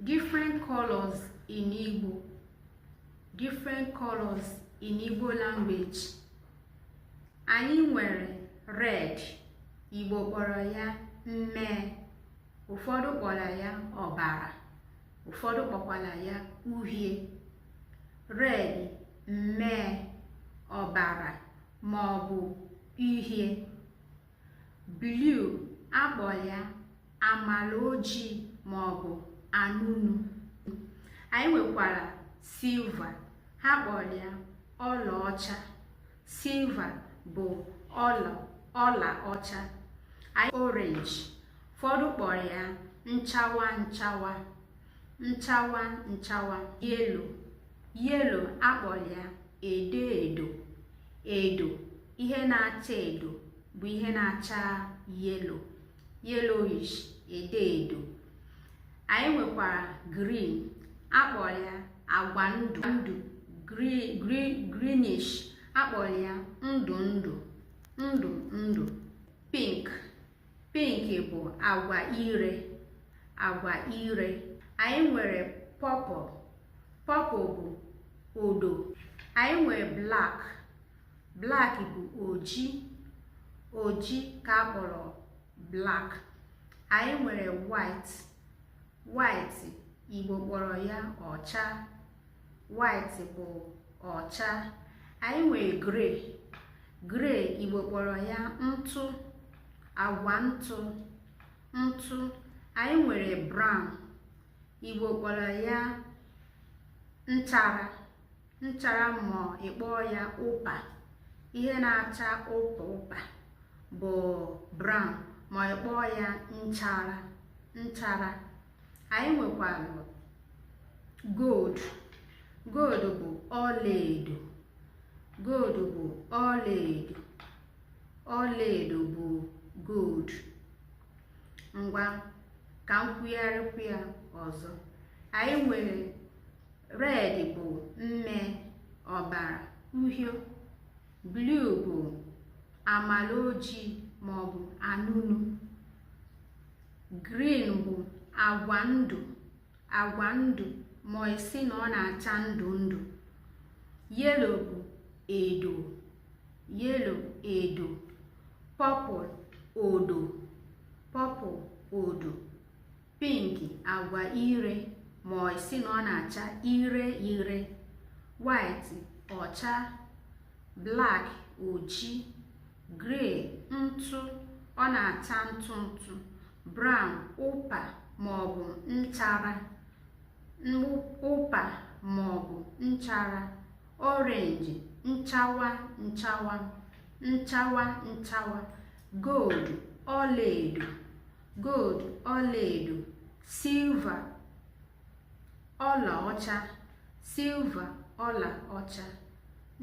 different colors in Igbo different colors in Igbo language anyị nwere red Igbo kpọrọ ya mmee ụfọdụ kpọrọ ya ọbara ụfọdụ kpọkwara ya uhie red mmee ọbara ma ọ bụ uhie blue a kpọrọ ya amala ojii ma ọ bụ anụnụ anyị nwekwara silver ha kpọrọ ya ọlaọcha silver bụ ọla ọla ọcha anyị orange ụfọdụ kpọrọ ya nchawa nchawa nchawa nchawa yellow yellow a kpọrọ ya edo edo edo ihe na-acha edo bụ ihe na-acha yellow yellowish edo edo anyị nwekwara green a kpọrọ ya agwa ndụ greenish a kpọrọ ya ndụ ndụ ndụ ndụ pink pink bụ agwa ire agwa ire anyị nwere purple purple bụ odo anyị nwere black black bụ oji oji ka a kpọrọ black anyị nwere white white Igbo kpọrọ ya ọcha white bụ ọcha anyị nwere grey grey Igbo kpọrọ ya ntụ agwa ntụ ntụ anyị nwere brown Igbo kpọrọ ya nchara nchara ma ị kpọọ ya ụpa ihe na-acha ụpa ụpa bụ brown ma ị kpọọ ya nchara nchara anyị nwekwara gold gold bụ ọlaedo gold bụ ọlaedo ọlaedo bụ gold ngwa ka m kwugharịkwu ya ọzọ anyị nwere red bụ mmee ọbara uhie blue bụ amala ojii ma ọ bụ anụnụ green bụ agwa ndụ agwa ndụ ma ị sị na ọ na-acha ndụ ndụ yellow bụ edo yellow edo purple odo purple odo pink agwa ire ma ị sị na ọ na-acha ire ire white ọcha black oji gray ntụ ọ na-acha ntụ ntụ brown ụpa maọbụ nchara ụpa maọbụ nchara orange nchawa nchawa nchawa nchawa gold ọlaedo gold ọlaedo silver ọlaọcha silver ọlaọcha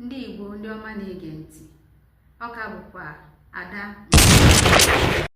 ndị Igbo ndị ọma na-ege ntị ọ ka bụkwa Ada